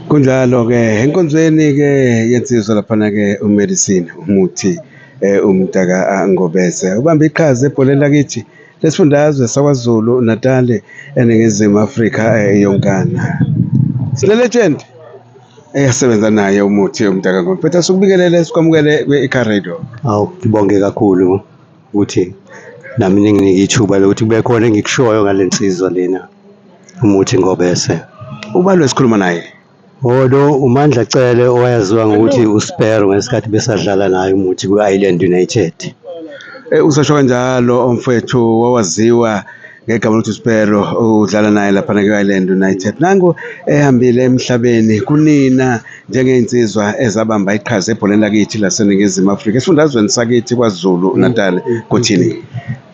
kunjalo-ke enkonzweni-ke yensizwa laphana-ke umedicine umuthi eh, umntaka angobese ubambe iqhaza ebholeni lakithi lesifundazwe sakwazulu natali eningizimu afrika eh, yonkana sinelegend eyasebenza naye umuthi umntaka ngobese sikubingelele sikwamukele kwi-car radio awu ngibonge kakhulu ukuthi nami ninginike ithuba lokuthi kube khona engikushoyo ngale nsizwa lena umuthi ngobese ubalo esikhuluma naye odo umandla cele owayaziwa ngokuthi uspero ngesikhathi besadlala naye umuthi kwi-island united Eh, usasho kanjalo omfwethu wawaziwa ngegama lokuthi uSpero udlala naye laphana kwi-Ireland United nangu ehambile emhlabeni kunina njengey'nsizwa ezabamba iqhaza ebholeni lakithi laseningizimu afrika esifundazweni sakithi kwazulu mm. natal mm. kuthini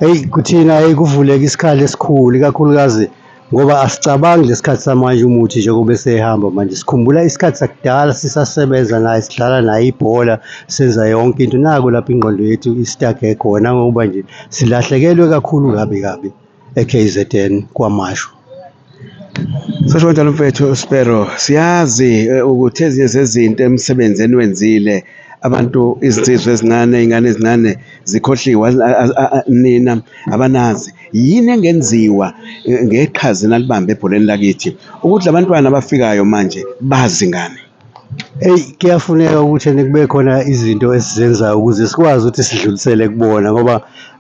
eyi kuthina eyi kuvuleka isikhala esikhulu ikakhulukazi ngoba asicabangi lesikhathi samanje umuthi njengoba esehamba manje sikhumbula isikhathi sakudala sisasebenza naye sidlala naye ibhola senza yonke into naku lapho ingqondo yethu isitaghe khona ngokuba nje Silahlekelwe kakhulu kabi kabi eKZN kwaMashu. Sasho kanjalo mfethu Spero, siyazi eh, ukuthi ezinye zezinto emsebenzi eniwenzile abantu izinsizwa ezincane iy'ngane ezincane zikhohliwe az- az- a- a- nina abanazi yini engenziwa eh, ngeqhaza enalibambe ebholeni lakithi ukuthi la bantwana abafikayo manje bazi ngani Eyi kuyafuneka ukuthi ene kube khona izinto esizenzayo ukuze sikwazi ukuthi sidlulisele kubona ngoba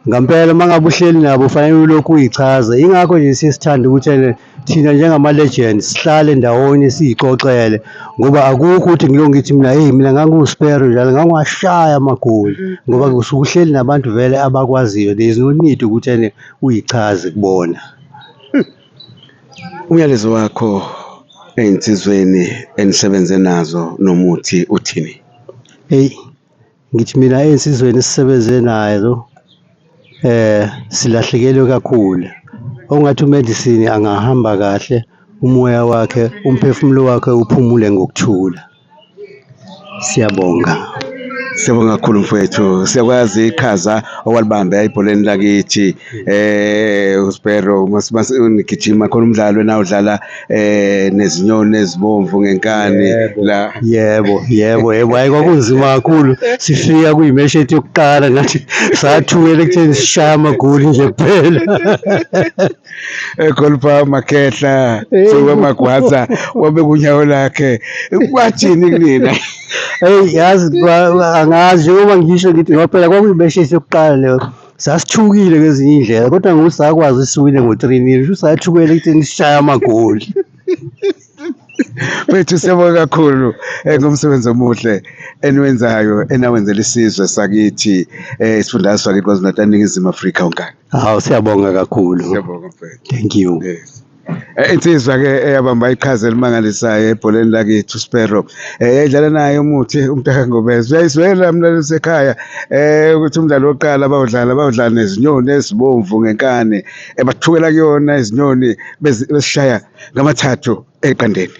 ngampela uma ngabe uhleli nabo ufanele ulokhu uyichaza. Yingakho nje siye sithande ukuthi ene thina njengama-legend sihlale ndawonye siyixoxele ngoba akukho ukuthi ngilokhu ngithi mina eyi mina ngangiwuspero njalo ngangiwashaya amagoli ngoba kusuke uhleli nabantu vele abakwaziyo. There is no need ukuthi ene uyichaze kubona. Umyalezo wakho ey'nsizweni enisebenze nazo nomuthi uthini? Eyi ngithi mina ey'nsizweni esisebenze nazo silahlekelwe kakhulu, okungathi u-medicine angahamba kahle umoya wakhe, umphefumulo wakhe uphumule ngokuthula. Siyabonga, siyabonga kakhulu mfwethu. Siyakwazi iqhaza owalibambe ebholeni lakithi eh uSbhero nigijima khona umdlalo enawudlala eh nezinyoni ezibomvu ngenkani la. Yebo, yebo, yebo. Hhayi kwakunzima kakhulu. Sifika kuyimeshi yethu yokuqala nathi sathukela ekutheni sishaye amagoli nje kuphela. ekholipa eh, makhehla siwe magwaza wabe kunyawo lakhe kwathini kunina eyi yazi angazi njengoba ngisho ngithi ngoba phela kwakuyibeshesi yokuqala leyo sasithukile ngezinye iy'ndlela kodwa ngokuthi sakwazi isiwine ngo-three nil sho sathukela ekutheni sishaye amagoli Bethu siyabonga kakhulu eh, ngomsebenzi omuhle eniwenzayo enawenzela isizwe sakithi eh, isifundazwe sakithi KwaZulu-Natal, Ningizimu Afrika wonkana. Hawu siyabonga kakhulu. Siyabonga mfethu. Thank you. Yes. Eh, insizwa ke eyabamba iqhaza elimangalisayo ebholeni lakethu Sparrow eh, yayidlala naye umuthi umntaka ngobezwe uyayizwela mlaleli sekhaya eh ukuthi umdlalo wokuqala bawudlala bawudlala nezinyoni ezibomvu ngenkani ebathukela kuyona izinyoni bezishaya ngamathathu eqandeni